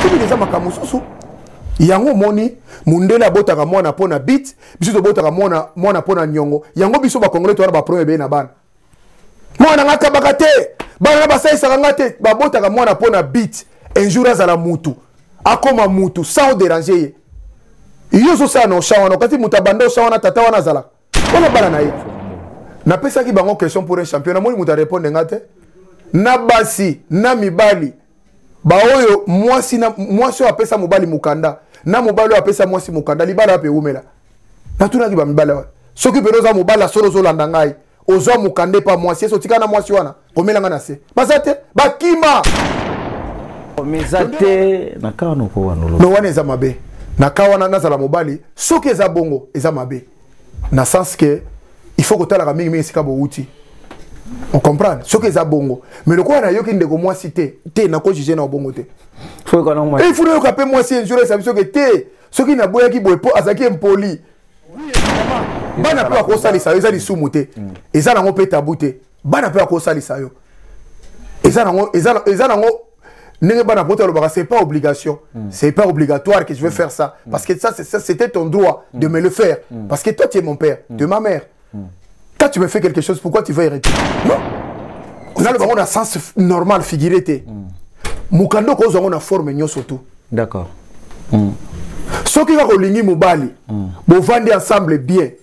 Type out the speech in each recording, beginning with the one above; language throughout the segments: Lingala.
ekomi deja makambo mosusu yango omoni mundele abotaka mwana mpo na bit biso tobotaka mwana mwana mpo na nyongo yango biso bakongole towana baproblème ebele na bana mwana nga akabaka te bana na basalisaka nga te babotaka mwana mpo na bit un jour azala mutu akoma mutu sans oderange ye yo ozosala na osha wana okati moto abanda osha wana tata wana azalaka wana bana na ye napesaki bango question pour un champion namoni moto arépondre nga te na basi na mibali baoyo mwasi oyo apesa mobali mokanda na mobali oyo apesa mwasi mokanda libala wapi ewumela natunaki bamibali wana soki mpena oza mobali ya solo ozolanda ngai ozwa mokanda epa mwasi esi otika na mwasi wana komela nga na se baza te bakima meza te na ka wana oko wana olobi wana eza mabe na ka wana nazala mobali soki eza bongo eza mabe na sens ke il faut kotalaka mingi mingi esika bowuti on comprendre soki eza bongo mais lokola nayoki ndeko mwasi te te nakojuge na bongo te il faut nayoka mpe mwasi enjure esa biso ke te soki naboyaki boye mpo azalaki impoli bana mpe bakosalisa yo eza lisumu te mm. eza nango mpe tabu te bana mpe akosalisa yo eza nango eza eza nango ndenge bana poto alobaka c'est pas obligation mm. c'est pas obligatoire que je veux mm. faire ça mm. parce que ça c'était ton droit mm. de me le faire mm. parce que toi tu es mon père mm. tu es ma mère mm. quand tu me fais quelque chose pourquoi tu veux hériter non oza loba ngo na sens normal figuré te mm. mokanda okozwa ngo na forme nyonso tout d'accord mm. soki kaka olingi mobali mm. bovandi ensemble bien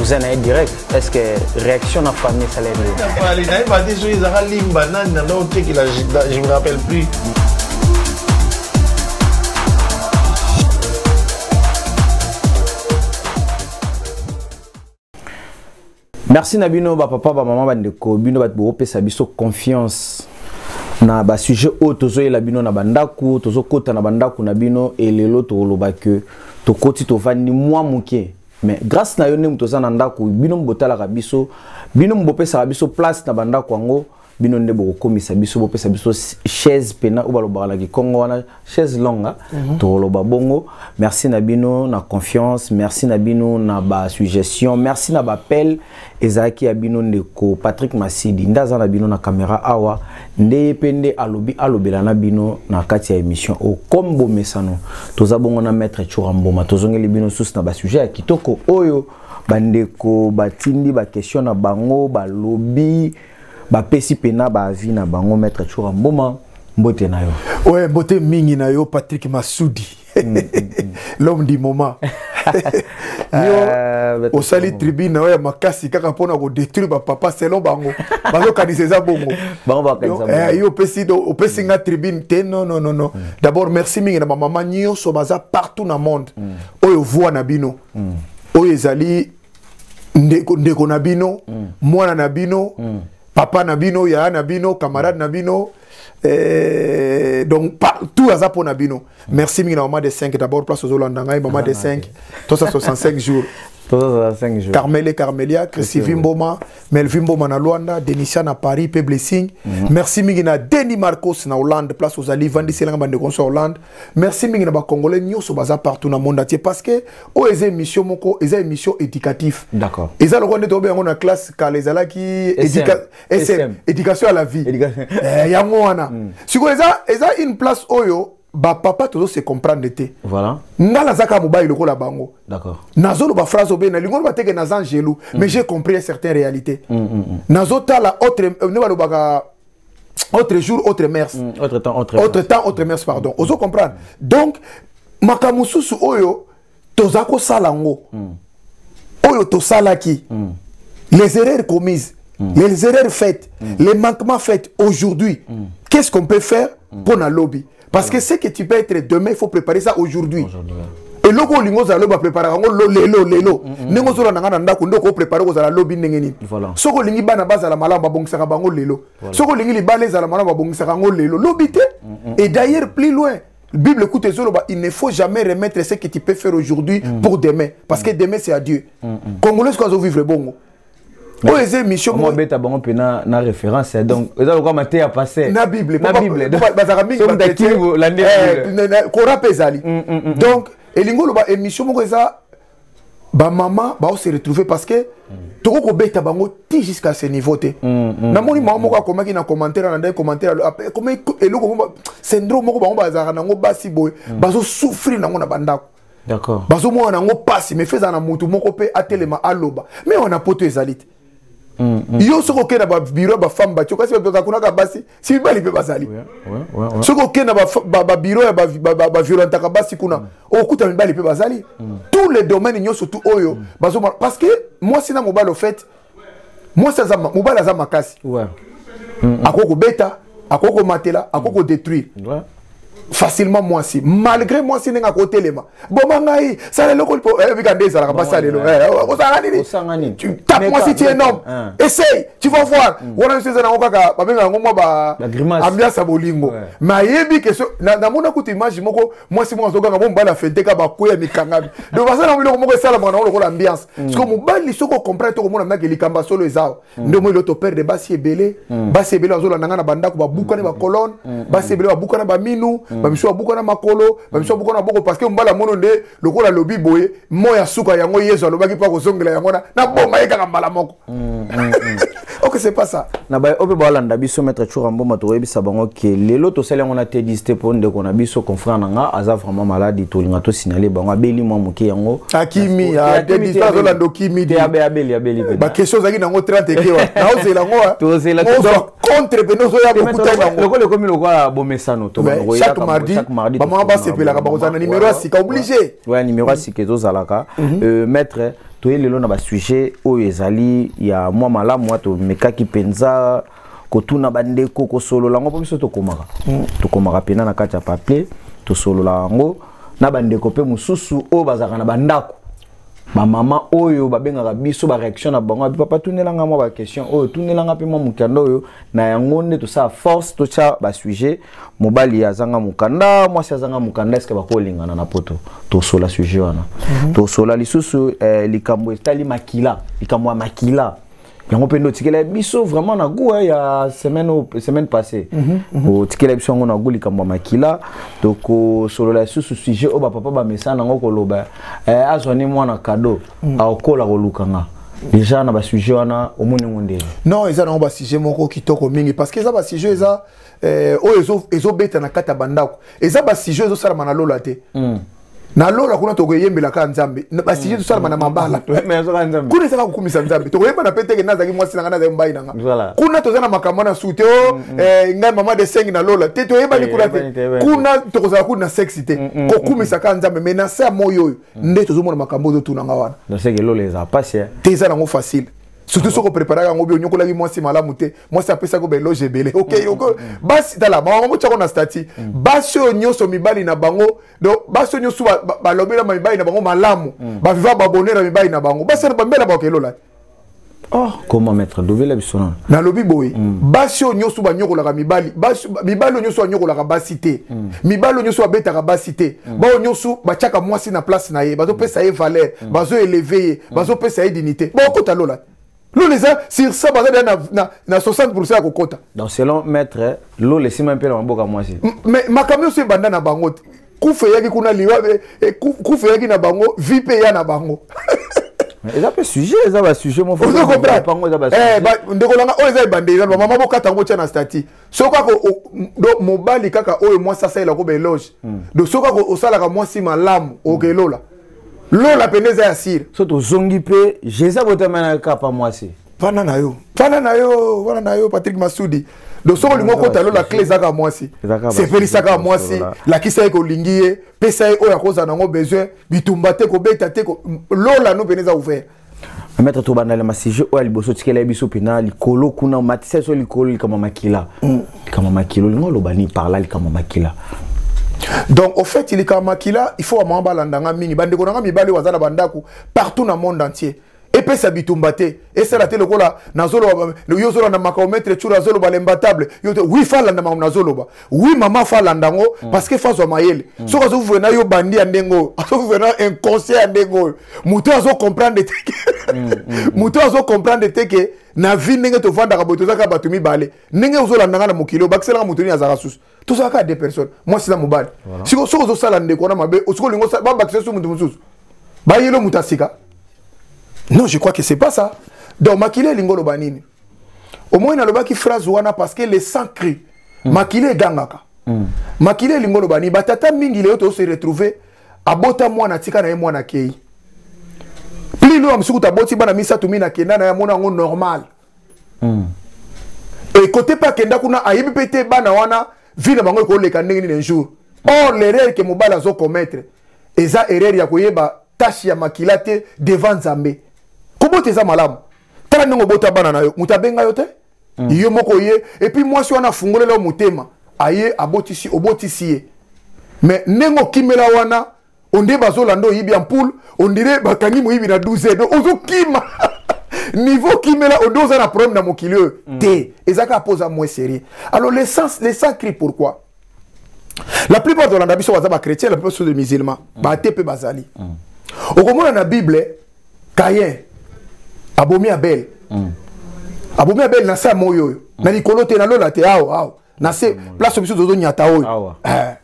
oza na ye direct est ce que réaction na famille esala yepali na ye bate soki ezaka limba nani na ndao tekela je me rappelle plus merci na bino bapapa bamama bandeko bino bato bokopesa biso confiance na basujet oyo tozoyela bino na bandako tozokɔta na bandako na bino elelo tokoloba ke tokoti tovandi mwa moke mais grâce na yo nde moto oza na ndako bino botalaka biso bino bopesaka biso place na bandako yango bino nde bokokomisa biso bopesa biso chaise pena oyo balobaka na kikongo wana chaise longa mm -hmm. tokoloba bongo merci na bino na confiance merci na bino na basuggestion merci na bapele ezalaki ya bino ndeko patrick masidi nde aza na bino na kamera awa nde ye mpe nde alobi alobela na bino na kati ya émission oyo comme bomesano toza bongo na maître cura mboma tozongeli bino susu na basujet ya kitoko oyo bandeko batindi bakestion na bango balobi bapesi mpena baavi na bango maître cura mboma mbote na yo oye mbote mingi na yo patrick masudi l'homme du moment yo euh, osali tribune na yo ya makasi kaka mpona kodétruire bapapa selon bango bazokanisa eza bongo eh, yo opesi nga tribune te non non non mm. d'abord merci mingi na bamama nyonso baza partout na monde mm. oyo voi na bino mm. oyo ezali ndeko, ndeko na bino mwana na bino papa na bino yaya na bino camarade na bino mm. Eh, donc partout aza mpo na bino merci mingi na mama de 5 d'abord place ozolanda ngai mama de 5 tosa 65 jours carmel et carmelia christivi mboma melvi mboma na luanda denisia na paris mpe blessing mm -hmm. merci mingi na denis marcos na hollande place ozali vandiselanga bandeko nyonso ya hollande merci mingi na bacongolais nyonso baza partout na monde atie parce que oyo eza émission moko eza émission éducatif eza lokola nde toyobe yango na classe kala ezalaki sm éducation à la vie eh, yango wana hmm. sikoyo eza eza une place oyo bapapa tozo se comprendre te voilà. nga nazaka mobali lokola bango nazoloba phrase obe nalingi oloba teke naza angelu mm. mais j'ai compris un certain réalité mm, mm, mm. nazotala autre euh, nde balobaka autre jour autre mers mm, autre temps autre, autre, temps, autre mers pardon ozo comprendre donc makambo mosusu oyo toza kosala yango mm. oyo tosalaki mm. les erreurs commises mm. les erreurs faites mm. les manquements faites aujourd'hui mm. qu'est-ce qu'on peut faire mm. mpo na lobi parce que ce que tu peux être demain il faut préparer ça aujourd'hui aujourd'hui eloko olingi ozala lobi bapreparaka yango lelo lelo mm, mm, ndenge mm. ozolanda ngai na ndako nde okoprepare kozala lobi ndenge nini soki olingi bana bazala malamu babongisaka bango lelo soki olingi libala ezala malamu babongisaka yango lelo lobi te et d'ailleurs plus loin Bible écoute Zoloba, il ne faut jamais remettre ce que tu peux faire aujourd'hui mm. pour demain. Parce mm. que demain c'est à Dieu. Mm, mm. Congolais, quoi, vivre bongo. oyo eza émission moko beta bango mpe na na référence ya donc eza lokola mateya passé na bible na bible bazalaka mingi bakimi bolandi kora mpe ezali donc elingi oloba émission moko eza ba maman ba se retrouver parce que toko ko beta bango ti jusqu'à ce niveau te mm, mm, na moni maman moko mm. akomaki na commentaire na ndai commentaire après comme eloko moko syndrome moko bango bazaka nango basi boy bazo souffrir nango na bandako d'accord bazo mona nango pasi mais feza na mutu moko pe atelema aloba mais on a poto ezalite Mm, mm. yo soki okei na babiro ya bafemme batio kasi bakakunaka basi si mibali mpe bazali soki okei na babiro ya baviolentaka basi kuna mm. okokuta mibali mpe bazali tous les domaines nyonso tu oyo bazoma parce que mwasi na mobali ofete mwasi mobali aza makasi akoki kobeta akoki komatela akoki kodétruire facilement mwasi malgré mwasi ndenge akotelema boma ngai sala eloko lipo oyebika eh, nde ezalaka basi alelo kozalaka nini tape mwasi ti énorme essaye tu vas voir mm. wana biso eza nango kaka babenga yango mwa baambiance ya bolingo mais ayebi ke namona kutu image moko mwasi moko azoganga bo mobali afenteka bakwe ya mikangami donc basala yango biloko moko esalamaka nango lokola ambiance mm. siko mobali soki okomprendre to komona mnake likambo ya solo ezawa nde omoi loto perdre basi ebele basi ebele bazolanda ngai na bandako babukani bacolone basi ebele babukana baminu bamisu babukana makolo bamisu babukana maboko parce que mbala mono nde lokola alobi boye moi ya suka yango yezu alobaki mpo akozongela yango na naboma ye kaka mbala moko ok c'est pas ça na baye oyo mpe balanda biso maître chura mboma tokoyebisa bango ke lelo tosali yango na tedis te mpo ndeko na biso confrère na nga aza vraiment maladi tolinga tosinale bango abeli mwa moke yango akimi azolandoki ah, midibaquestion ozalaki nango 30 ekewa naozela yango ah. contre mpe nozoya kokuta yangoelokola ekomi lokola bomesano chaque mardi bamama basepelaka bakozala na numero ya sika oblige numero ya sika ezozalaka mhm. euh, maître toye lelo na basujet oyo ezali ya mwa malamu tomekaki mpenza kotuna bandeko kosolola yango mpo biso tokomaka mm. tokomaka mpena na kati ya papier tosolola yango na bandeko mpe mosusu oyo bazalaka na bandako bamama oyo babengaka biso bareaction na bango abi papa tunelanga mwa baquestion oyo tunelanga mpe mwa mokanda oyo na yango nde tosala force totya basujet mobali azanga mokanda mwasi azanga mokanda eske bakolingana na poto tosola sujet wana mhm. tosola lisusu eh, likambo etali makila likambo ya makila yango mpe nde otikela biso vraiment na goût hein, ya semaine semaine passée mhm, mhm. otikela biso yango na goût likambo ya makila tokosolola lisusu sujet oyo bapapa bamesana yango koloba eh, azwa ne mwana kado mhm. aokola koluka nga déjà na basujet wana omoni yango ndenge non eza nango basujet moko kitoko mingi parce que eza basujet eza eh, oyo ezobeta na kati ya bandako eza basujet ezosalama na lola te mm. na lola kuna tokoyembela kaka nzambe basije tosalama na mabala kuna ezaka kokumisa nzambe tokoyembana mpe teke nazalaki mwasi na ngai nazalaki mbai na ngai kuna toza na makambo na su te o ngai mama de sengi na lola te toyebani kuna te kuna tokozala kuna na sexi te kokumisa kaka nzambe mai na se ya moi oyo nde tozomona makambo oyo totuna ngai wana te eza nango facile surtout soki opreparaka yango bi onyokolaki mwasi malamu te mwasi apesaki baeloge ebele okei basi tala mawango motyako na stati basi oyo nyonso mibali na bango donc basi nyonso balobela ba, mibali na bango malamu mm. baviva babonere ya mibali na bango basi na bambela bango elola Oh, comment maître dovela biso nano nalobi boye mm. basi oyo nyonso banyokolaka mibali mibali oyo nyonso banyokolaka basi te mm. mibali oyo nyonso babetaka basi te mm. baoyo nyonso batyaka mwasi na place na ye bazopesa ye valeur mm. bazoeleve ye mm. bazopesa ye dignité baokota lola te lola eza sur ça baza deya na 60 ya kokɔta donc selon maître lola esimba mpe na maboka mwasi mais makambo nyonso ebanda na bango te kufa eyaki kuna liwa eh, eh, kufa eyaki na bango vi mpe eya na bango eza mpe sujet eza basujet mofango eza basujet ndeko langa oyo eza ebandeli na bamama bokata yango otya na stati soki kaka do mobali kaka oyo mwasi asalela ko baeloge hmm. do soki kaka osalaka mwasi malamu hmm. okelola lola mpenza eza ya sire so tozongi mpe jésus abotama na kapa mwasi fana na yo fana na yo fana na yo patrik masudi do soki olingi okota lola cle ezaka mwasi sepelisaka mwasi lakisa ye kolingi ye pesa ye oyo akozala nango besoin bitumba te kobeta te lola no mpena eza ouvert maître tobanda na masije oyo ya liboso tikela ye biso mpena likolo kuna matisa biso likolo likambo ya makila mm. likambo ya makila olingi oloba nini parla likambo ya makila donc au fait likambo ya makila il faut bamama balanda nga mingi bandeko na nga mibali oyo baza na bandako partout na monde entier epesa bitumba te esala te lokola nazoloba yo ozolanda makambo maître tshour azoloba lembatable yo te wi falanda makambo nazoloba oui mama fa alanda yango mm. parce que fazwa mayele mm. soki azovivre na yo bandi ya ndenge oyo azovivre na inconscient ya ndenge oyo moto oyo azocomprendre te ke mm, moto oyo azocomprendre te ke na vie ndenge tovandaka boye tozalaka bato mibale ndenge ozolanda nga na mokili oyo bakiselaka moto nini azalaka susu tozalaka ya deux personnes mwasi na mobali siko soki ozosala ndeko wana mabe osiko olingi babakisa su moto mosusu bayelo moto asika non je crois que c'est pas ça donc makili elingi oloba nini omoni nalobaki phrase wana parce que le sang cri mm. makila egangaka mm. makila elingi oloba nini batata mingi lelo tozo se retrouver abota mwana atika na ye mwana akei pli loyo mosuku taboti bana misato mi nakenda na ye amona yango normal mm. ekote mpe akenda kuna ayebi mpe te bana wana vie na bango ekoleka ndenge nini un jour or l'erreur ke mobali azo commettre eza erreur ya koyeba tache ya makila te devant nzambe kobota eza malamu tala ndenge obota bana na yo moto abenga yo te mm. yo moko ye epuis mwasi wana afungolela yo motema aye abotisi obotisi ye mais ndenge okimela wana onde bazolanda oyibi ya mpoule ondire bakangi moyibi na 12 donc ozokima niveau kimela onde oza na problème na mokili oyo mm. te eza kaka mpo oza moins sérieux alors le sens le sang cri pourquoi la plupart tolanda biso baza bachrétien la plupart biso de musulman mm. bate mpe bazali mm. okomona na bible kayen abomi abele mm. abomi abele na se ya moi oyo mm. na likolo te na lola te awa awa na se mm. place biso tozonyata oyo eh.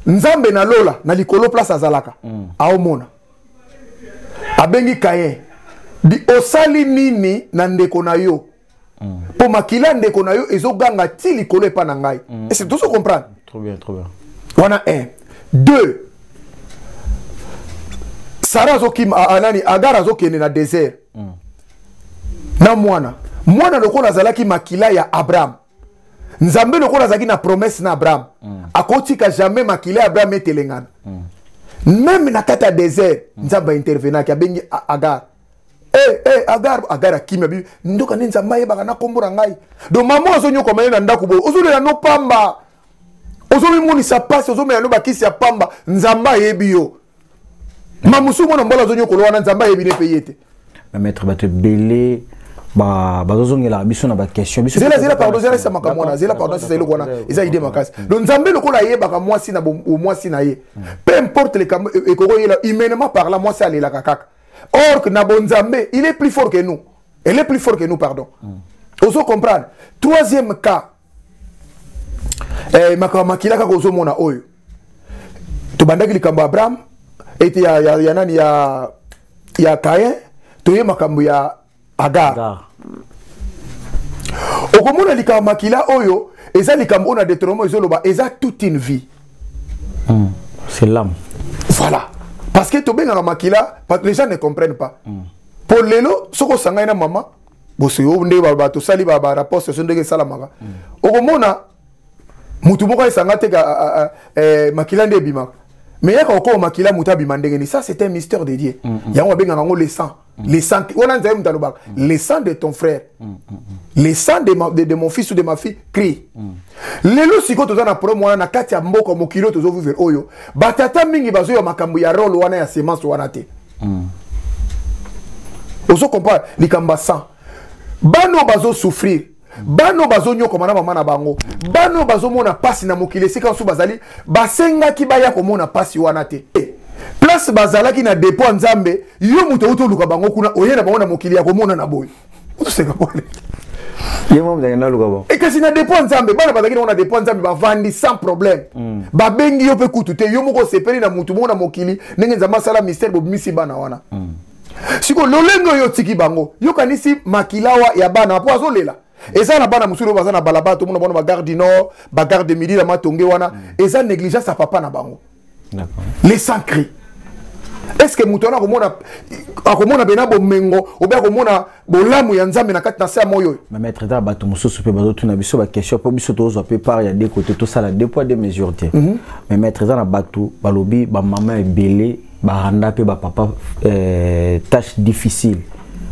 nzambe na lola na likolo place azalaka mm. aomona abengi kayen osali nini na ndeko na yo mpo mm. makila ya ndeko na yo ezoganga ti likolo epai na ngai mm. ese tozo comprendre trop bien, trop bien. wana un deux sara azokima ah, ah, nani agara azokende na désert mm. na mwana mwana lokola azalaki makila ya abraham nzambe lokola azalaki na promesse na abraham mm. akotika jamais makila ya abraham etelengana mm. meme na kati ya désert mm. nzambe aintervenaki abengi agar Eh, eh, agar agar akimi abi ndoka nde nzambe ayebaka na nkombo na ngai donc mama azonyokwama ye na ndako boye ozolela no pamba ozomimonisa mpasi ozomela no bakisi ya pamba nzambe ayebi yo ma mosusu mwana mobali azonyokolo wana nzambe ayebi ne mpe ye te bamaître bato ebele bazozongelaka biso na baquestion zela zela pardon zela esa makambo wana zela pardon sesa eloko wana eza idée makasi mm. donc nzambe lokola ayebaka mwasi na mwasi na ye mm. peu importe likambo e, ekokoyela humainement parla mwasi alelaka kaka or que na bonzambe il est plus fort que nous elle est plus fort que nous pardon mm. ozo comprendre troisième cas eh, makambo makila kaka ozomona oyo tobandaki likambo ya abraham ete ya, ya, ya nani ya, ya kain toye makambo ya agar, agar. okomona likambo makila oyo eza likambo oyo na deuteronome ezoloba eza toute une vie mm. c'est l'âme voilà parce que tobengaka makila les gens ne comprennent pas mm. mpo lelo soki osangani na mama bosoyo nde bato osali barapport soso ndenge esalamaka mm. okomona motu moko esanga te eh, makila nde ebimaka mais yaka okoma makila moto abima ndenge ni ça c'est un mystère de dieu mm, mm. yango babengaka yango le sang Mm. Le sang, wana nzambe moto alobaka mm. le sang de ton frère mm, le sang de, ma, de, de mon fils ou de ma fille crie lelo sikoyo toza na problème wana na kati ya mboka mokili oyo tozovivre oyo batata mingi bazoyeba makambo ya role wana ya semence wana te ozo comprendre likambo ya sang bana oyo bazosouffrir bana oyo bazonyokoma na mama na bango bana oyo bazomona mpasi na mokili esika mosusu bazali basengaki baya komona mpasi wana te place bazalaki na depo ya nzambe yo moto outi oluka bango kuna oye na bango na mokili ya komona na boye otoseka pole e kasi na depo ya nzambe bana bazalaki nango na depo ya nzambe bavandi sans problème mm. babengi yo mpe kutu te yo moko osepeli na motu moko na mokili ndenge nzambe asala mystère bobimisi bana wana mm. siko lolenge oyo otiki bango yokanisi makilawa ya bana mpo azolela eza na bana mosusu oyo baza na balabala tomona bango na bagare du nord bagare de midi na matonge wana mm. eza négligence ya papa na bango les sans cri est ce que moto wana akomona akomona mpena bomengo obe akomona bolamu ya nzambe na kati na se ya moi oyo mametre taa bato mosusu mpe bazotuna biso baquestion mpo biso tozwa mpe part ya deko te tosala deux poids deux mesure te mhm. mais maître eza na bato balobi bamama ebele baranda mpe bapapa euh, tâche difficile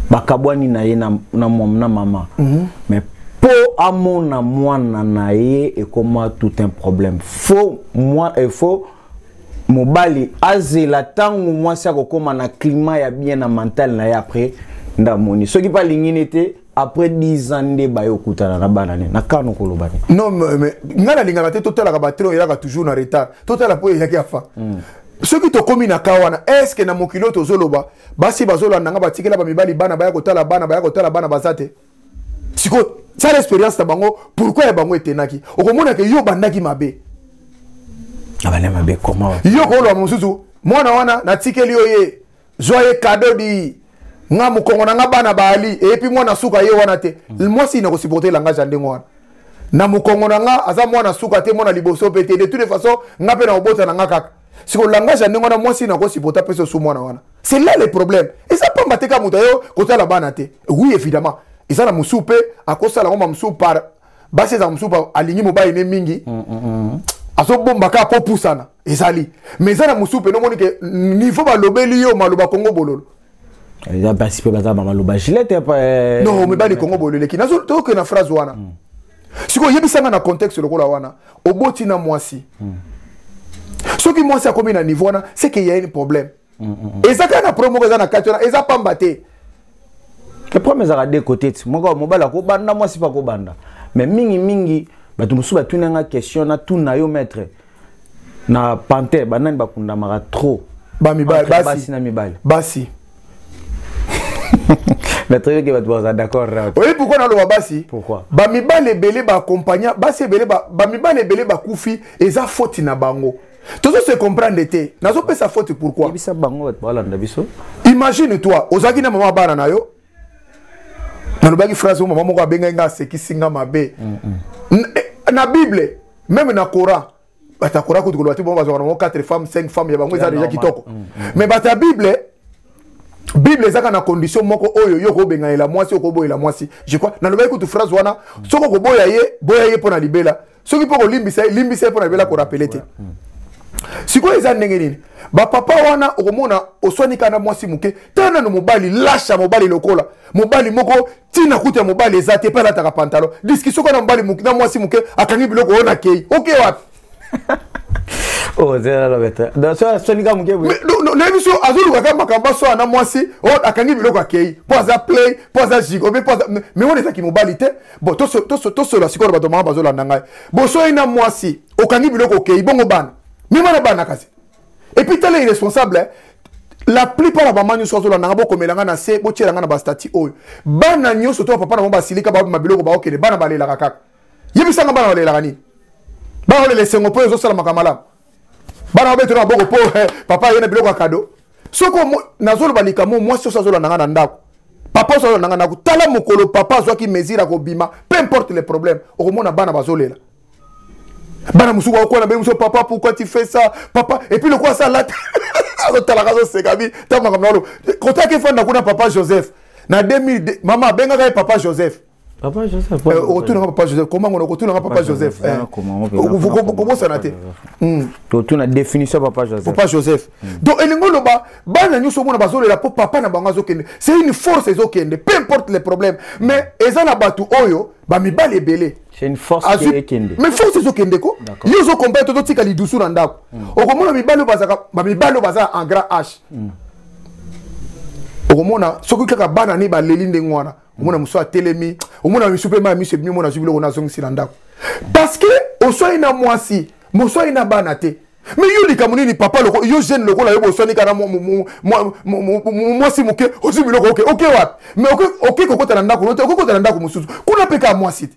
bakabwani na ye na, na, na mama mm -hmm. mais mpo amona mwana na ye ekoma tout un problème fo mwa, eh, fo mobali azela ntango mwasi akokoma na klima ya bien na mentale na ye après ndamoni soki mpe alingi ne te après 10 ans nde baye okutana na bana ne nakano koloba ne non mais ngai nalingaka te totalaka batele oyo eyaka toujours na retard totala mpo eyaki afa mm. soki tokomi na kaa wana estce na mokili oyo tozoloba basi bazolanda nga batikela bamibali bana baya kotala bana baya kotala bana baza te sikoyo sala expérience na bango pourkui ya bango etenaki okomona ke yo obandaki mabe abanda mabe koma yo okoloba mosusu mwana wana natikeli yo ye zwa ye kado di nga mokongo na nga bana baali eyepi mwana suka ye wana te hmm. mwasi nakosuporte langage ya ndenge wana na mokongo na nga aza mwana suka te mwana liboso mpe te de toute façon nga mpe na kobota na nga kaka siko langage ya ndenge wana mwasi na kosipota mpe sosu mwana wana c'est là le problème eza pamba te ka moto ayo kotala bana te oui évidemment eza na mosusu mpe akosala yango mamosusu par basi ezala mosusu alingi mobali ne mingi mm, mm, mm. azobomba kaka mpo opusana ezali mais eza na mosusu mpe nomoni ke niveau balobeli yo maloba kongo bololo eza basi mpe baza bamaloba gilete eh, no mibali kongo boleleki nazo toke na phrase wana mm. sikoyo oyebisanga na contexte lokola wana oboti na mwasi mm. soki mwasi akomi na niveau wana seke ya une problème mm, mm, mm. eza kaka na problème moko eza na kati wana eza pamba te le problème ezalaka de côté ti moko mobali akobanda mwasi mpe akobanda mais mingimingi bato mosusu batunanga question natuna yo maître na panthère banani bakundamaka trop bamibali basi na mibali basi natoyoki bato baza d'accord oyebi pourkoi naloba basi bamibali ebele baakompagna basi ebele bamibali ebele bakufi eza foti na bango tozo se comprendre te nazopesa foti pourkoi imagine toi ozalaki na mama bana na yo nalobaki phrase oyo mama moko abengaki nga asekisi nga mabe eh, na bible meme na coran bato ya coran kutu koloba te bango bazwaka nango 4 femmes 5 femmes ya bango eza deja kitoko mm, mm. mais bato ya bible bible ezaka na condition moko oyo yo okobenganela mwasi okoboyela mwasi je crois nalobaki kutu phrase wana soki okoboya ye boya ye mpo na libela soki mpo kolimbisa ye limbisa ye mpo na libela korapele te hmm. sikoyo eza ndenge nini bapapa wana okomona oswani kaka na mwasi moke tala nano mobali lasha mobali lokola mobali moko ntina kutu ya mobali eza te mpe alataka pantalo diskisio kaka na mobali na mwasi moke akangi biloko oyo nakei oke wapi nayebi so azolukaka makambo asoya na mwasi akangi biloko akei mpo aza play mpo aza jigo mpe mpo aza me wana ezaki mobali te bon tosolola sikoyo na bato mama bazolanda ngai bosoyi na mwasi okangi biloko okei bongo bana mema na bana kasi epuis tala irresponsable eh? la plupart ya bama nyonso azolanda ngai bokomela ngai na se botyela ngai na bastati oyo bana nyonso to bapapa na bango basilika babima biloko baokende bana balelaka kaka yebisanga bana balelaka nini bana balela esengo mpo ezosalamaka malamu bana babetela maboko mpo eh, papa aye na biloko ya kado soki nazoloba likambo mwasi oso azolanda ngai na ndako papa oso azolanda ngai ndako tala mokolo papa azwaki mesure ya kobima peu importe le problème okomona bana bazolela bana mosusu bakokwana benge mosusu papa pourquoi tu fais ça papa epuis lokola asala te azotalaka azoseka bi ntango makambo nalo kotaki efanda kuna papa joseph na 2002 mama abengaka ye papa joseph papa joseph eh, okotunaka papa joseph koma ngo okotunaka papa joseph eh. kobosana te hmm. totuna définition papa joseph papa joseph hmm. donc elingi oloba bana nyonso omona bazolela mpo papa na bango azokende c'est une force ezokende peu importe les problèmes mais eza na bato oyo bamibali ebele mais force ezokende ko yo ozokompare tozotika lidusu na ndako hmm. okomona mibali oyo baza en grand h okomona soki kaka bana ne baleli ndenge wana omona mosusu atelemi omona misu mpe mai miso ebimi omona azwi biloko na azongisi na ndako parce que oswani na mwasi moswani na bana te me yo likambo nini papa loko yo jeune lokola yo boswani kana mwasi moke ozwi biloko oke oke wapi me oke kokota na ndako lote oke kokota na ndako mosusu kuna mpe kaka mwasi te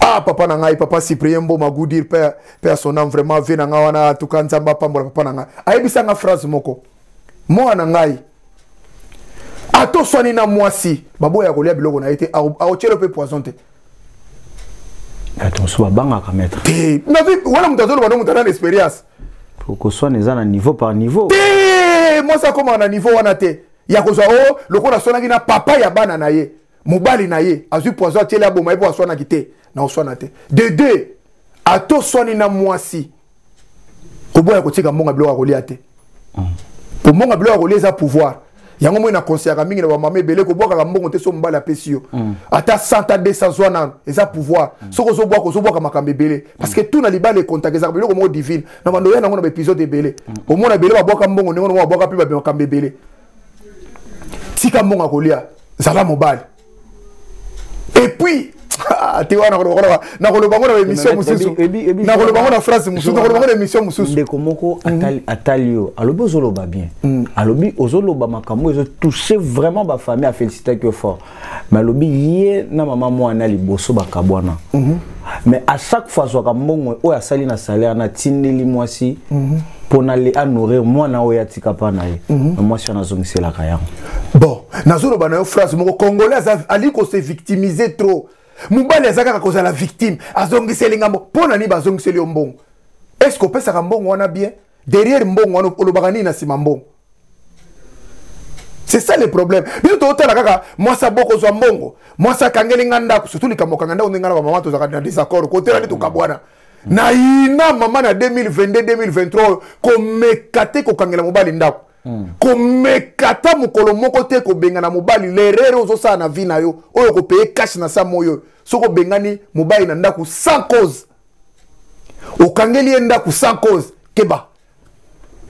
ah papa na ngai papa cyprien mboma gudir père père son âme vraiment vie na ngai wana tuka nzambe apambola papa na ngai ayebisa ngai phrase moko mwana na ngai ata oswani na mwasi baboya kolia biloko na ye te aotyelo mpe poison te bato mosusu babangaka maître te wana moto azoloba no moto ana na expérience koswana eza na niveau par niveau te mwasi akomaka na niveau wana te ya kozwa o oh, lokola aswanaki na papa ya bana na ye mobali na ye azwi poison atieli aboma ye mpo aswanaki te na oswana te de deux ata oswani na mwasi koboya kotika mbongo ya biloko ya kolia te mpo mm. mbongo ya biloko ya kolia eza pouvoir yango moi nakonseyaka mingi na bamama ebele kobwakaka mbongo te so mobali apesi yo mm. ata 100 ta 200 zwa nano eza pouvoir mm. soki ozobwaka ozobwaka makambo ebele parce que tout na libala ekontak ezaka biloko moko divine na bando ya nango na baepisode ebele omona ebele babwaka mbongo ndenge nongo babwaka mpe babe makambo ebele tika mbongo ya kolia zala mobali epuis ah, te wana nakoloba ngo na émission mosusu nakoloba ngo na phrase mosusu nakoloba ngo na émission mosusu ndeko moko mhm. atali yo alobi ozoloba bien mhm. alobi ozoloba makambo ezotouche vraiment bafamille afélicitaki yo fort mais alobi ye na mama mwana liboso bakabwana mm -hmm. mais à chaque fois azwaka mbongo oyo asali na salaire natindeli mwasi mm -hmm. mpo na le anourrir mwana oyo atika mpa na ye mm -hmm. na mwasi wana azongiselaka yango bon nazoloba na yo phrase moko congolais ali kose victimise trop mobali aza kaka kozala victime azongiseli ngambo mpo na nini bazongiseli yo mbongo est ce que opesaka mbongo wana bien derrière mbongo wana olobaka nini na nsima mbongo c'est ça le problème biso totala kaka mwasi aboko ozwa mbongo mwasi akangeli nga ndako surtout likambo kanga ndako ndenge nga na bamama tozalaka na désaccord kotela nde tokabwana nayina mama na 2022 2023 oyo komeka te kokangela mobali ndako hmm. komeka ata mokolo moko te kobengana mobali lerere ozosala na vie na yo oyo okopeye kashe na sa moyo soki obengani mobali na ndako sans cause okangeli ye ndako sans cause keba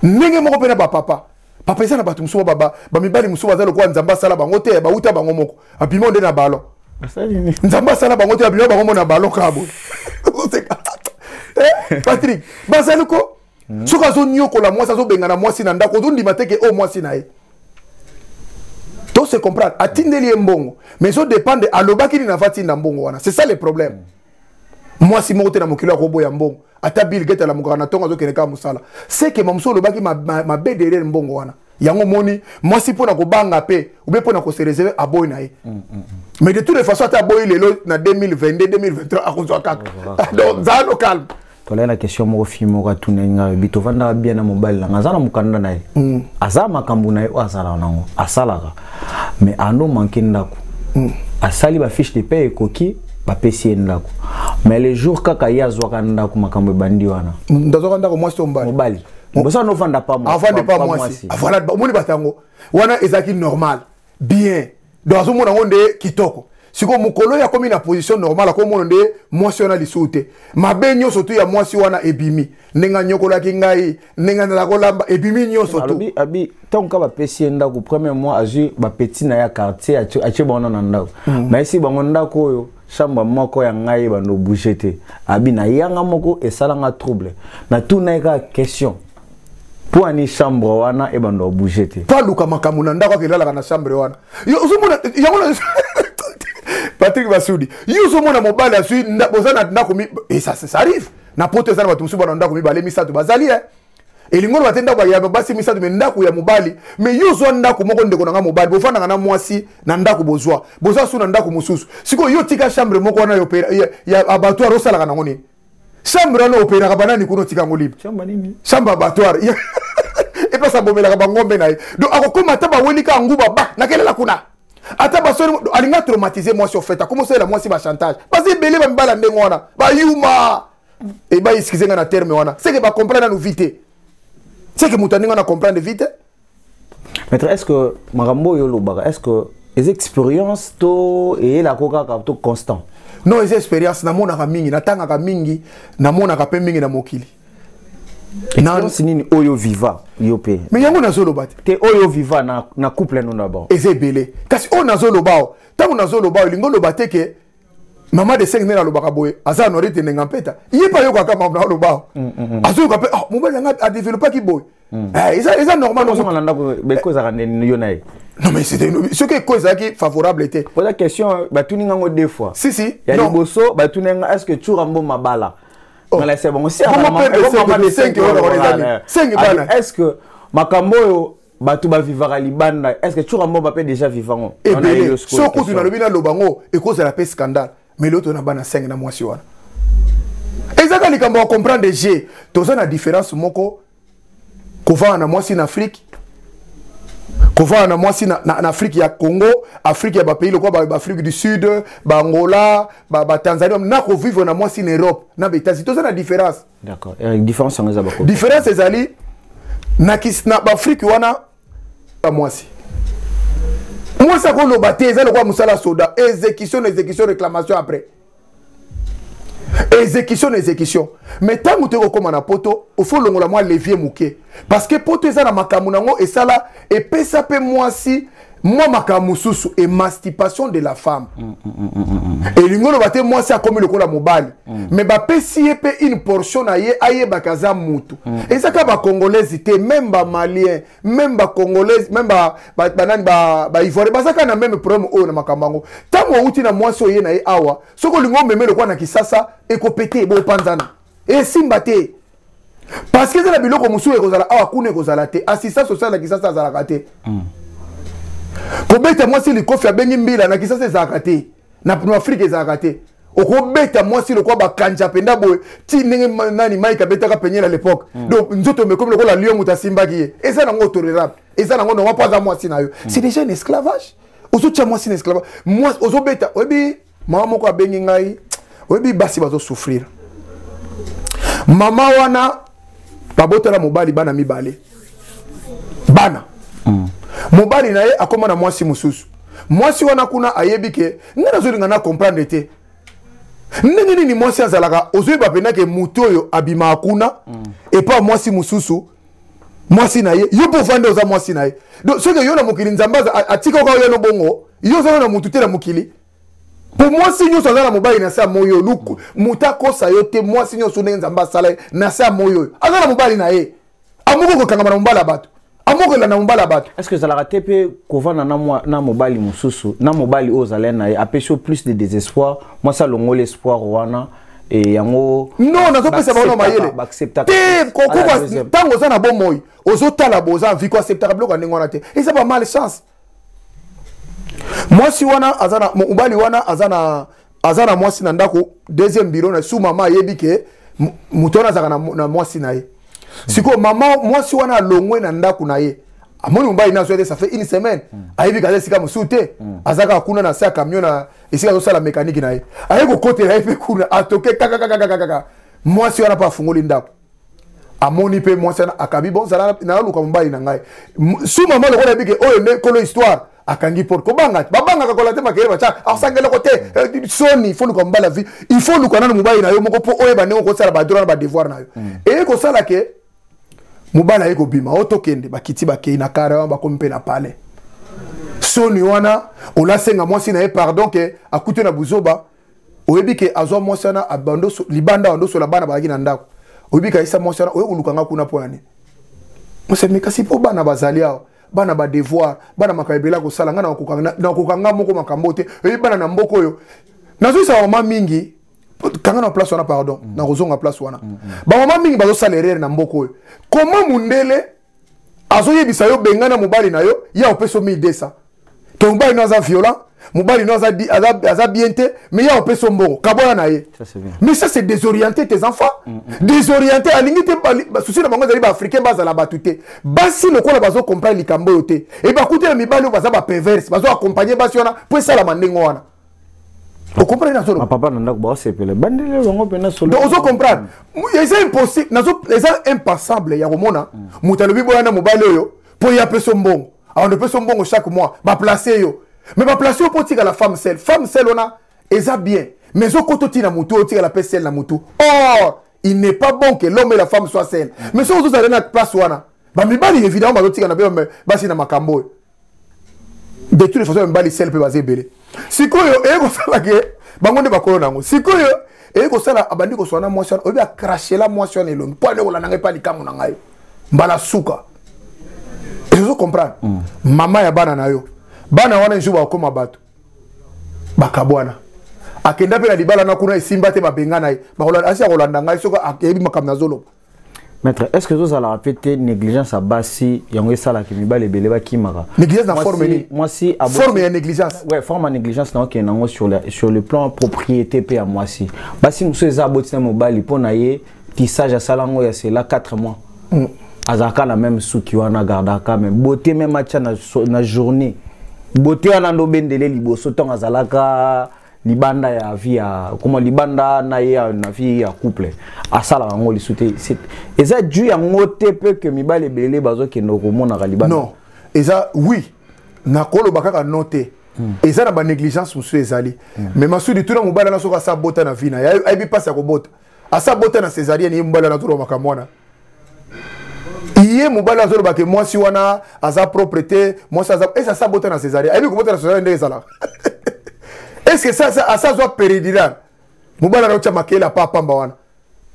ndenge moko mpe na bapapa papa eza na bato mosusu bamibali mosusu baza lokola nzambe asala bango te bauta bango moko abima nde na balon nzambe asala bango te abima bango mo na balon kaka boye eh, patrik bazali ko hmm. soki azoniokola mwasi azobengana mwasi na ndako ozondima te ke oyo oh, mwasi na ye to se comprendre atindeli ye mbongo mais ezodépendre alobaki nini avatinda mbongo wana c'est ça le problème mm. mwasi moko te na mokili akoboya mbongo ata bill gate alamukaka na ntongo azokende kaka mosala seke mamosu olobaki mabe derrière mbongo wana yango omoni mwasi mpo na kobanga mpe obe mpo na kosereserve aboyi na ye mm, mm, mm. mais de toute façon ata aboyi lelo na 2022 2023 akozwa kaka donc zano calme tolai na question moko fille moko atunaki ngai bi tovandaka bien na mobali nanga aza na mokanda na ye mm. aza makambo na ye oyo azalaka nango asalaka mais ano manke ndako mm. asali bafiche de paie ekoki bapesi ye ndako mais le jour kaka ye azwaka ndako makambo ebandi wana ndazwaka ndako mwasi to mobali mobali bosa novanda pa mwasi avande pa mwasi avanda omoni batango wana ezalaki normal bien donc azomona yango nde kitoko sikoyo mokolo oyo akomi na position normale akomona nde mwasi wana lisusu te mabe nyonso tu ya mwasi wana ebimi ndenge anyokolaki ngai ndenge azala kolamba ebimi nyonso tu abi ntango ka bapesi ye ndako premier mois azwi bapeti na ye ya quartier atie bango na ndako hmm. bayesi bango ndako oyo chambre moko ya ngai bando bouge te abi na yanga moko esala nga trouble na tuna ka question mpo ani chambre wana ebanda obouge te mpo aluka makambo na ndako akelalaka na chambre wana ozomona yango na patrik basudi yo ozomona mobali azwi oza na ndako esa eh, arrive na poto eza na bato mosusu bana ndako mibale misato bazali e eh. elingi oloba te ndako ya basi misato me ndako ya mobali me yo ozwa ndako moko ndeko na ngai mobali bofandaka na mwasi na ndako bozwa boza su na ndako mosusu sikoyo yo tika chambre moko wana ya abattoir osalaka nango nini chambre wana operaka banani kuna otika yango libre chambre abattoir epesa abomelaka bangombe na ye donc akokoma ata bawelika yango baba nakelela kuna ata basoni alinga traumatise mwasi ofeta komosalela mwasi bachantage baza ebele bamibala ndenge wana bayuma Et bah, excusez moi na terme wana. C'est que bah comprendre nous vite. C'est que moutani on a comprendre vite. Maître, est-ce que Marambo Yolobara, est-ce que les expériences to et la coca to constant? Non, les expériences na mona mingi, na tanga mingi, na mona ka pe mingi na mokili. Expérience nini oyo viva yo pe. Mais yango na zoloba te. oyo viva na na couple no na ba. Ezebele. Kasi oyo na zoloba. Tango na zoloba, lingo loba te que mama de senge nde nalobaka boye aza nori te ndenge mpeta ye mpe ayokaka mambo na oloba mm, mm, mm. azoyoka mpe ah, mobali yanga adeveloppaki boye eh, eza normal ozonga na ndako beko ezalaka nde yo na ye non mais c'était soki eko ezalaki favorable te poza question batuni ngango deux fois si si ya liboso batuni yanga est ce que tshura mbo mabala oh. nalasa bango si est ce que makambo oyo bato bavivaka libanda est ce que tshura moba mpe déjà vivango ebele so kutu nalobi naloba ngo ekozala mpe scandale mais leo tona bana 5 na mwasi wana ezaka likambo ya comprendre je toza na différence moko kovanda na mwasi na afrique kovanda na mwasi na, na, na afrique ya congo afrique ya bapays lokola baafrique ba du sud baangola batanzanie ba na kovivre na mwasi na europe na baetats-unis toza na différence D'accord. Et différence en ezaba quoi Différence ezali na kis na Afrique wana ba mwasi. Mwasi ko loba te ezali kwa musala soda exécution exécution réclamation après. Exécution exécution. Mais tangu te ko koma na poto, il faut longola moi levier muke. parce que poto eza na makambo na yango esala epesa mpe mwasi mwa makambo mosusu émancipation de la femme mm, mm, mm, elingi oloba te mwasi akomi lokola mobali me bapesi ye mpe une portion na ye ayebaka aza mutu eza kaka bacongolaise te meme bamalien meme bacongolaise meme banani baivoire baza kaka na meme problème oyo na makambo yango ntango outi na mwasi oye na ye awa soki olingi omeme lokola na kisasa ekopete bopanzana esimba te parce que eza na biloko mosusu ekozala awa kuna ekozala te assistant social na kisasa azalaka te mm. kobeta mwasi likofi abengi mbila na kisasa ezalaka te na afrika ezalaka te okobeta mwasi lokola bakanja mpenza boye ti ndenge nani mike abetaka penye na lepoke mm. donc nzoto mekomi lokola lio moto asimbaki ye eza nango otorerable eza nango nongo mpo aza mwasi na yo mm. c'est déjà un esclavage ozotya mwasi na esclavage mwasi ozobeta oyebi mama moko abengi ngai oyebi basi bazosouffrir mama wana babotela mobali bana mibale bana mm. mobali na ye akoma na mwasi mosusu mwasi wana kuna ayebi ke ngai nazolinga na comprendre te ndenge nini mwasi azalaka ozoyeba mpenza ke moto oyo abimaka kuna mm. epa mwasi mosusu mwasi na ye yo mpo ofandi oza mwasi na ye donc soki yo na mokili nzambe atika oka oyano bongo yo ozana na motu te na mokili mpo mwasi nyonso aza na mobali na se ya moi oyo luku moto akosa yo te mwasi nyonso ndenge nzambe asala ye na se ya moi oyo aza na mobali na ye amoko kokangama na mobali ya bato amoko elanda mobali ya bato estce ezalaka te mpe kovanda na mobali mosusu na mobali oyo ozalai na ye apesi yo plus de désespoir mwasi alongoli espoir wana e yango non nazopesa bango na mayele te kokoba ntango oza na bomoi ozotala boza viko aceptaka biloko ya ndenge wana te eza ba mal chance mwasi wana aza na mobali wana aza na aza na mwasi na ndako deuxième bureau na su mama ayebi ke moto wana azalaka na, na mwasi na ye sikoyo mama mwasi wana alongwe na ndako na ye amoni mobali na azwa te ça fait une semaine ayebi kaza esika mosusu te azalaka kuna na se ya camion na esika azosala mekaniki na ye aye kokotela ye mpe kuna atoke kakakakakakaka mwasi wana mpe afungoli ndako amoni mpe mwasi wana akabi bozala naluka mobali na ngai su mama lokola yebike oyo nde kolo histoire akangi porte kobanga te babangaka kola te makele batya asanga eloko te eh, soni fo luka mobali ya vie il faut luka nano mobali na yo moko mpo oyeba ndenge okosala badroit na badevoir na yo mm. eye kosala ke mobali aye kobima o tokende bakiti bakei na kare wana bakomi mpe na palais soni wana olasenga mwasi na ye pardon ke akute na buzoba oyebi ke azwa mwasi wana libanda wandosola bana bazalaki na ndako oyebi kayisa mwasi wana oye koluka nga kuna mpo na nini mosemi kasi mpo bana bazali awa bana badevoir bana makambo ebele akosala ngai nakoka nga moko makambo te oyebi bana na mboka oyo nazoyisa mama mingi kanga na place wana pardon mm. nakozonga place wana mm -hmm. bamama mingi bazosala erreur na mboka oyo koma mundele azoyebisa yo bengana mobali na yo ya opesa yo 1200 to mobali no aza violent mobali no aza, aza, aza bien te mais ya opesa yo mbongo kabola na ye mais ça c'est désorienté tes enfants mm -hmm. désorienté alingi te basusi na bango ezali baafricain bazala bato te basi lokola bazokomprane likambo oyo te e bakutela mibali oyo baza baperverse bazoaccompagne basi wana mpo esalama ndenge wana okomprendre nazo loba papa na ndako baosepela bandele bango mpena solo donc ozo comprendre eza impossible nazo eza impensable ya komona moto alobi boya na mobali oyo mpo ye apesa mbongo awanda opesa mbongo chaque mois baplace yo mais baplace yo mpo otikala femme sel femme sel wana eza bien mais ezokota otina motu oyo otikala mpe sel na motu or il n'est pas bon que l'homme et la femme soit sel mais soki ozozala na place wana bamibali évidemment bazotikana mpe basi na makambo oyo de toute façon mibali sel mpe baza ebele sikoyo eye kosala ke bango nde bakolo na yango sikoyo eye kosala abandi koswana mwasi wana oyebi akrashela mwasi wana elongi mpo ande kolanda ngai mpe likambo na ngai mbala suka ezo comprendre mm. mama ya bana na yo bana wana ezo bakokoma bato bakabwana akenda mpe na libala na kuna esimba te babengana ye asi akolanda ngai soki ayebi makambo nazoloba maître est ce que ezozalaka mpe te négligence ya basi yango esalaka mibali ebele bakimaka négligence na forme nini mwasi forme ya négligence ouais forme ya négligence na okende yango sur, sur le plan propriété mpe ya mwasi basi mosusu eza aboti na mobali mpo na ye tissage asala yango ya sela 4 mois mm. azalaka na meme suki wana agardaka me beauté meme atya na, na journée beauté wana nde obendele liboso ntango azalaka libanda ya vie ya koma libanda na ye na vie ya couple asalaka yango lisu te eza du yango te mpe ke mibali ebele bazokende komonaka libanda non eza oui nakoloba kaka no te hmm. eza na banégligence mosusu ezali hmm. mais masudi tuna mobali na soki asa bota na vie na ye ayebi mpasi ya kobota asa bota na cesarienne ye mobali wana azoloba makambo wana ye mobali azoloba ke mwasi wana aza propre te mwasi aza ese asa bota na cesarienne ayebi kobota na cesarienne ndenge ezalaka eske sasa asa azwa peridiral mobali anaotya makele apa apamba wana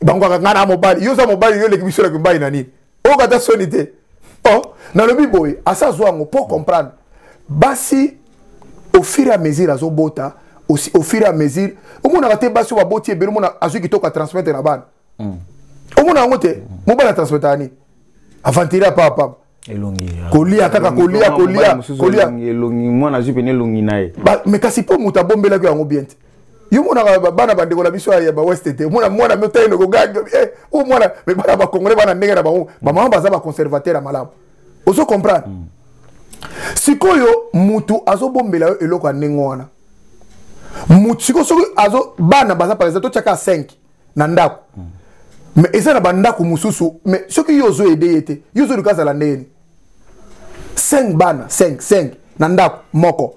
bango kaka ngai na mobali yo oza mobali yo oleki biso oleki mobali na nini oyoka ata soni te oh, nalobi boye asa azwa yango mpo comprendre basi au fur et à mesure azobota aussi au fur et à mesure omonaka te basi oyo baboti ebele omona azwi kitoko atransmettre na bana hmm. omona yango te hmm. mobali atransmetaka nini aventire apa apama kolia kaka kolia kolia kolia mwana azwi pene elongi na ye mais kasi mpo moto abombelaki yango bien te yo monaka bana bandeko na biso ya baweste te omona mwana miotaino kogangi eh, o mwana me bana bakongole bana ndenge na bango bamama baza baconservateur ya malamu ozo comprendre mm. sikoyo mutu azobombela yo eloko ya ndenge wana mutu sikoyo soki azo bana baza par exemple totyaka 5 na ndako mm. me eza na bandako mosusu me soki yo ozo ede ye te yo ozoluka azala ndenge nini 5 bana 5 5 na ndako moko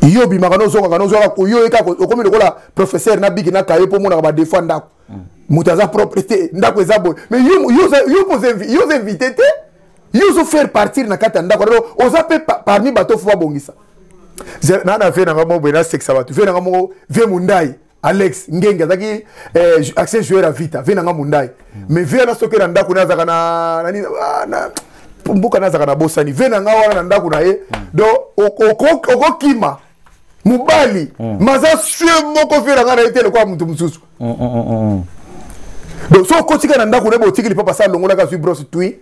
yo obimaka nozongaka nozwaka koyo ye kaka okomi lokola professeur na biki na kaye mpo omonaka badefo ya ndako mm. moto aza propre te ndako eza boye mais yo oza invité te yo ozo faire partir na kati ya ndako lelo oza mpe parmi bato fo babongisa na na vie nanga moko boye nasekisa bato vie nanga moko vie mondai alex ngenge azalaki eh, accès joueur ya vita vie nanga mondai mm. mais vie wana soki na ndako naye azalaka na nini ah, na mboka naye azalaka na bosani vie nanga wana na ndako na ye mm. donc okokima mobali mm. maza sue moko vie nanga na ye te lokola moto mosusu mm, mm, mm, mm. donc soki okotika na ndako na ye botikili papa sa alongolaka azwi brosse twi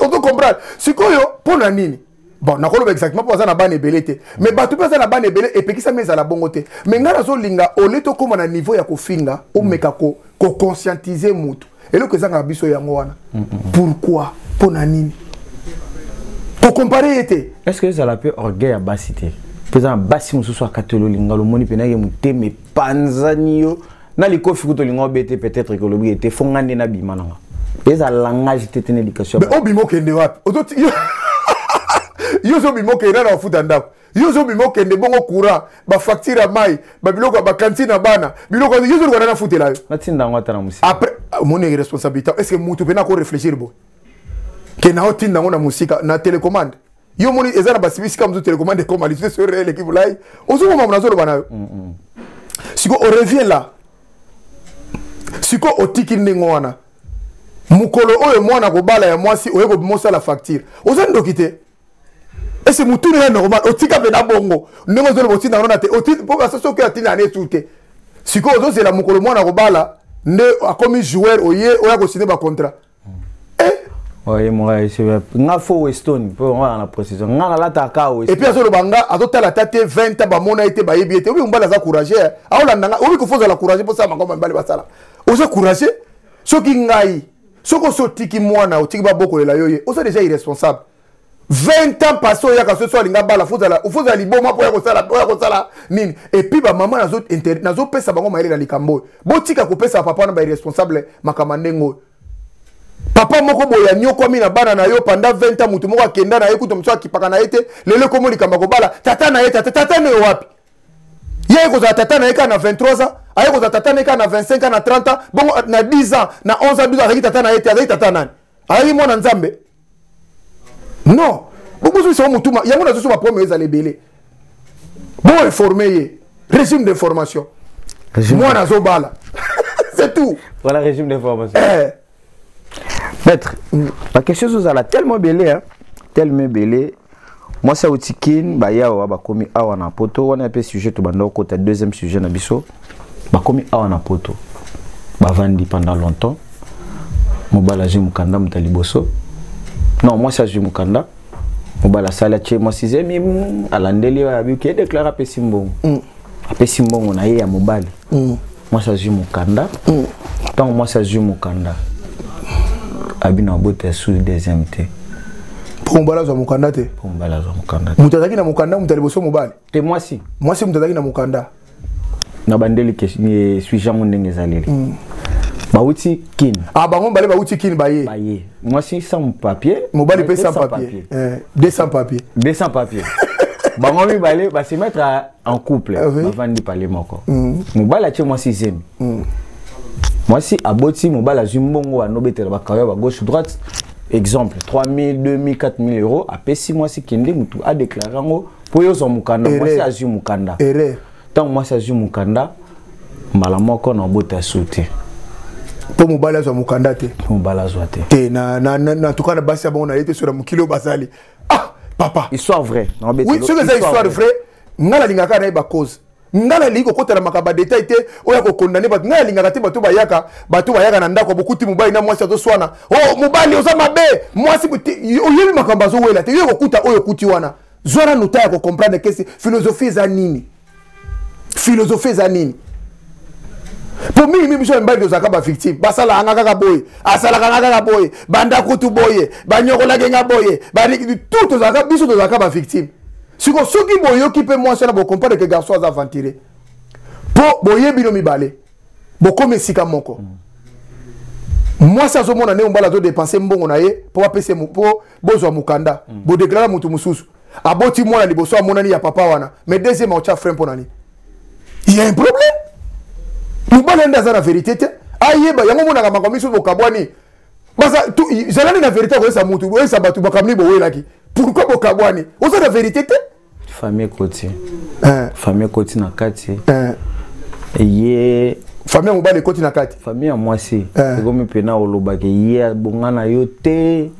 ozo comprendre sikoyo mpo na nini bon nakoloba exactement mpo baza na bana ebele te mais mm. bato mpe baza na bana ebele epekisami ezala bongo te mais ngai nazolinga ole tokóma na niveau ya kofinga omeka mm. koconscientise ko motu eloko ezangaka biso yango wana mm, pourquoi mpo na nini kokompare ye te est ce que ezala mpe orgueil ya basi te mpo eza na basi mosusu akatoli olinga lomoni mpenake motema epanzani yo na likofi kutu olinga obete peut-être que olobi ete fonga nde nabima nanga eza langage te tena éducation mais obima okende wapi ozoti yo ozobima okende na bafuta ndako yo ozobima okende bongo courant bafacture ya mai babiloko ya bakantine ya bana biloko yo ozoluka nani afutela yo natinda yango ata na mosika après omoni ah, responsabilité est ce que motu mpe nako réfléchir boye ke na otinda yango na mosika na télécommande yo omoni eza na basibisika mosusu telecommande ekoma lisusu esoyo reel ekibulai ozokoma mona azoloba na yo mm, mm. siko orevient la siko otiki ndenge wana mokolo oyo mwana kobala ya mwasi oye kobimosala facture oza ndoki te ese motuni ya normal otika mpe na bongo ndenge ozoloba otinda yango na te mpo basasi oke atinda yana esu te sikoyo ozozela mokolo mwana kobala nde akomi joueur oye oya kosine bacontrat oye moka esebe nga fo weston mpo nga na précision nga nalataka ka weston epuis azoloba nga azotala ata te 20 ans bamona ye te bayebi ye te obi mobali aza courage eh. aolanda nga obi kofa ozala courage mposala makambo mibali basala oza courage soki ngai soki osi otiki mwana otiki babokolela yo ye oza deja irresponsable 20 ans passé oyaka soso alinga bala fozala fozala liboma mpo ya kosala mpo ya kosala nini epuis bamama nazopesa bango mayele na likambo oyo botika kopesa papa wana bairresponsable makambo ndenge oyo papa moko boye anyokwami na bana na yo panda 20 ans moto moko akenda na ye kuta mosusu akipaka na ye te lelo ekomo likambo akobala tata na ye tata tata na yo wapi ye aye kozala tata na ye kaka na 23 ans aye kozala tata na ye kaka na 25 ans na 30 ans bongo na 10 ans na 11 ans 12 ans azalaki tata na ye te azalaki tata nani ayaki mwana nzambe non bokozwisa yo motuma yango nazoso baproblème ezala ebele bo informe ye régime d'information mwana azobala c'est tout voilà régime d'information eh. maître bakestion ezozala tellement ebele tellement ebele mwasi awuti kin baya awa bakomi awa na poto wana mpe sujet tobanda kokota deuxième sujet na biso bakomi awa na poto bavandi pendant longtemps mobali azwi mokanda moto ya liboso non mwasi azwi mokanda mobali asali atye mwasi zemi alandeli oyo abiki edeklare apesi mbongo mm. apesi mbongo na ye ya mobali mm. mwasi azwi mokanda mm. ntango mm. mwasi azwi mokanda abino abota ya sous deuxième te mpo mobali azwa mokanda te mpo mobali azwa mokanda te moto azalaki na mokanda moto ya liboso mobali te mwasi mwasi moto azalaki na mokanda na bandeli sujet yango ndenge ezaleli mm. bawuti kin ah bango mibale bawuti kin baye baye mwasi sans papier mobali mpe sans papier 200 papier 200 papier bango mibale basemetre en couple ah, oui. bavandi pale moko mm. mobali atie mwasi zemi mm. mwasi aboti mobali azwi mbongo anobetela bakayo ba gauche droite exemple 3000 2000 4000 euros apesi mwasi kende motu adeklare yango mpo yo ozwa mokanda mwasi azwi mokanda ntango mwasi azwi mokanda mbala moko na obota su te mpo mobali azwa mokanda te mobali azwa te te na, na, na, na tuka na basi ya bango na ye te soki na mokili oyo basali ah papa histoire vrai oui soki eza histoire vrai nga nalingaka na ye bacause nga nalingi kokota na makambo ya detail te oyo ya kokondane bato nga nalingaka te bato bayaka bato bayaka na ndako bokuti mobali na mwasi azoswana o oh, mobali oza mabe mwasi oyebi makambo azowela te yo kokuta oyo okuti wana zwana nota ya kocomprendre kesi philosophie eza nini filozofi eza nini mpo mingi mingi biso mibali tozalaka bavictime basalaka nga kaka boye asalaka nga kaka boye banda kutu boye banyokolaki nga boye tout tozalaka biso tozalaka bavictime siko soki boyoki mpe mwasi wana bokomprendre ke garçon aza aventire mpo boye bino mibale bokomi esika moko mm. mwasi azomona ndenge mobali azodepense mbongo na ye mpo bapese mpo bozwa mokanda mm. bodeklare moto mosusu aboti mwana liboso amonani ya papa wana mais deuxième aotya frein mpo na nini ya un problème mobali yande aza na verité te ayeba yango omonaka makambo miso bokabwani zalani na verité akoyesa motu oyesa bato makambo nini bowelaki pourkui bokabwani oza na verité te famille ekoti eh. famille ekoti na kati eh. ye famille ya mobali ekoti na kati famille ya mwasi eh. ekomi mpena olobaki ye abonga na yo te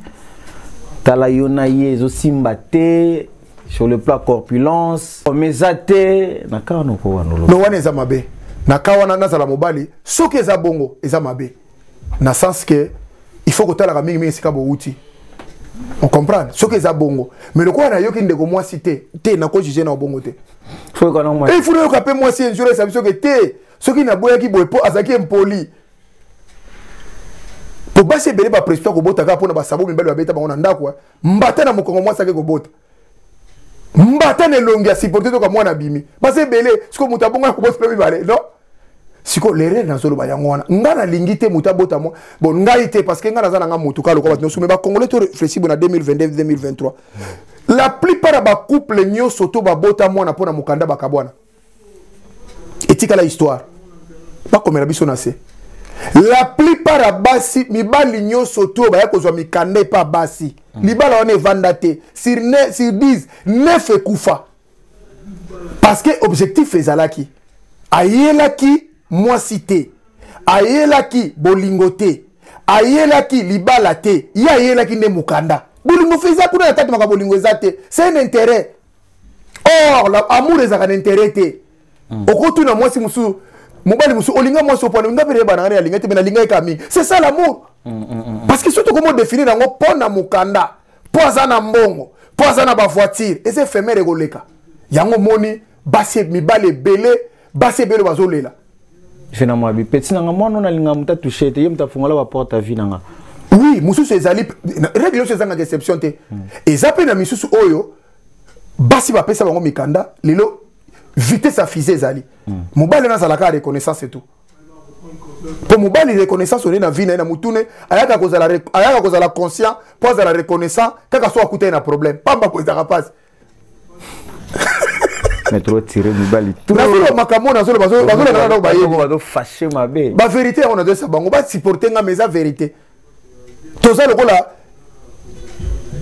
tala yo na ye ezosimba te sur le plan corpulence mais eza te na kawa nokowanolo no wana eza mabe na kawa wana nazala mobali soki eza bongo eza mabe na sens ke il faut kotalaka mingimingi esika bowuti on comprendre soki eza bongo mais lokola nayoki ndeko mwasi te te nakojuge na obongo te il faut nayoka mpe mwasi injure esa biso ke te soki naboyaki boye mpo azalaki impoli po basi ebele bapresita kobota kaka mpona basabo mibali babeta bango na ndako eh. mbata na mokongo mwasi ake kobota mbata na elongi ya siporte toka mwana abimi basi ebele sikoyo moto abonga kobota mpe mibale non sikoyo lerere nazoloba yango wana ngai nalingi te moto abota mwa bon ngai te parce que ngai naza na ngai motu kaka lokola bato nyonso me bacongolais to réfléchi bona 2022 2023 la plupart ya bacouple nyonso to babota mwana mpo na mokanda bakabwana etikala histoire bakomela biso na se la plupart ya basi mibali nyonso te oyo baya kozwa mikanda epa basi mm. libala wana evanda te sur 10 9 ekufa parce que objectif ezalaki ayelaki mwasi te ayelaki bolingo te ayelaki libala te ye ayelaki nde mokanda bolingo feza kuna na kati maka bolingo eza te c'est un intérêt or la amour ezalaka na intérêt te hmm. okotuna mwasi mosusu mobali mosusu olinga mwasi opona nga mpe nayebana nga nalinga te mpe nalinga ye kaka mingi c'est ça l'amour hmm, hmm, parce que soki tokomi odefini na yango mpo na mokanda mpo aza na mbongo mpo aza na bavoitire eza efemere ekoleka yango omoni basi mibali ebele basi ebele bazolela vie na mwabi peti nanga mwana ona linga muta touche te ye muta fungola ba porte vie nanga oui mususu ezali règle oyo ezangaka exception te hmm. eza mpe na misusu oyo basi bapesa bango mikanda lelo vitesse ya fise ezali hmm. mobali wana azalaka reconnaissance etout mpo mobali reconnaissance olie na vie na ye na motune ayaka kozala conscient mpo azala reconnaissant kaka so akuta ye na problème pamba ko ezalaka mpasi mais trop tiré mibali nazoloba makambo nazoloba bazolekana nao bayebi bazofashe mabe baverité yango nazoyesa bango basupporte nga mais eza verité toza lokola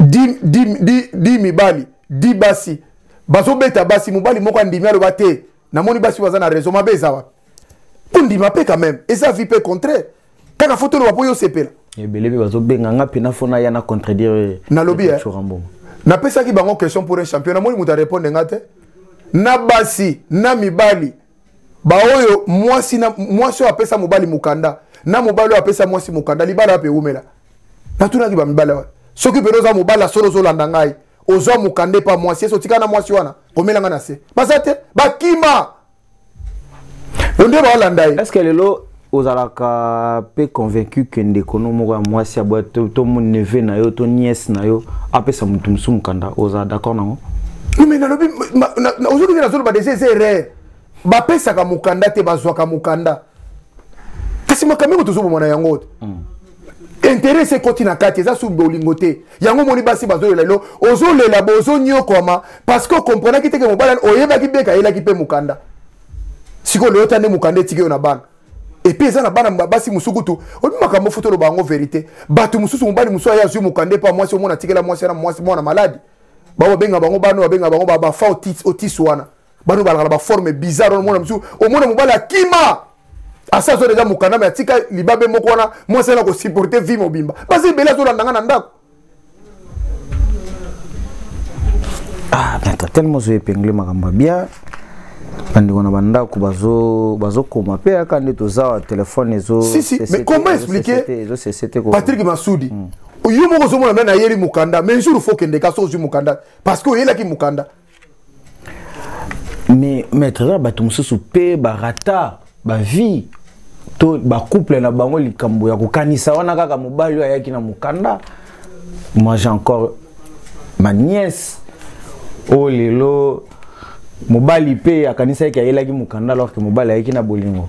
di mibali di basi bazobeta basi mobali moko andimi aloba te namoni basi baza na raison mabe eza wapi kondima mpe quand même eza vie mpe contraire kaka fo toloba mpo yo osepela ebele mpe bazobenga nga mpe nafona ya na contredire nalobi eh. napesaki bango question pour un champion namoni moto arépondre nga te na basi na mibali baoyo mwasi oyo apesa mobali mokanda na mobali oyo apesa mwasi mokanda libala wapi ewumela natunaki bamibali wana soki mpenza oza mobali ya solo ozolanda ngai ozwa mokanda epa mwasi esi otika na mwasi wana komela ngai na se baza te bakima onde baalanda ye estce lelo ozalaka mpe convaincu ke ndeko no moko ya mwasi aboya to, to neve na yo to niese na yo apesa moto mosusu mokanda ozala d'accord nango me nalobi ozolobi nazoloba deja eza erreur bapesaka mokanda te bazwaka mokanda kasi makambo yango tozoboma na yango te hmm. interese ekoti na kati eza su bolingo te yango omoni basi bazolela lelo ozolela bozonyokwama parceke okomprenaki teke mobali oyebaki beka ayelaki mpe mokanda sikoyo lelo ta nde mokanda etiki yo na bana epuis eza na bana basi mosusu kutu oyebi makambo futa oloba yango verité bato mosusu mobali mosusu aye azwi mokanda epa mwasi omona atikela mwasi wana mwasi mwana maladi baoyo babenga bango bana oyo babenga bango bafa otis wana bano balaka na baforme bizarre wana omona mosusu omona mobali akima asi azo deja mokanda me atika libabe moko wana mwasi ana kosupporte vie mobimba basi ebele azolanda nga na ndako ah, tellement ozo epingle makambo ya bien bandeko na bandako bazokoma mpe yaka nde tozawa telefone ezopatrik masudi hmm. yo moko ozomona me nayeli mokanda mais jour fo okendeka so ozwi mokanda parce que oyelaki mokanda mais maître eza bato mosusu mpe barata bavie to bacouple na bango likambo ya kokanisa wana kaka mobali oyo ayaki na mokanda moi j'ai encore ma nièce oyo oh, lelo mobali mpe akanisaki ayelaki mokanda alors ke mobali ayaki na bolingo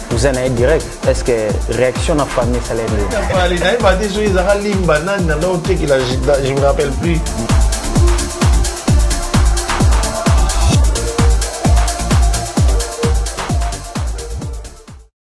oza na ye direct est ce que réaction na famille esala ye nayeba te soki ezaka limba nani na nao tekela je me rappelle plus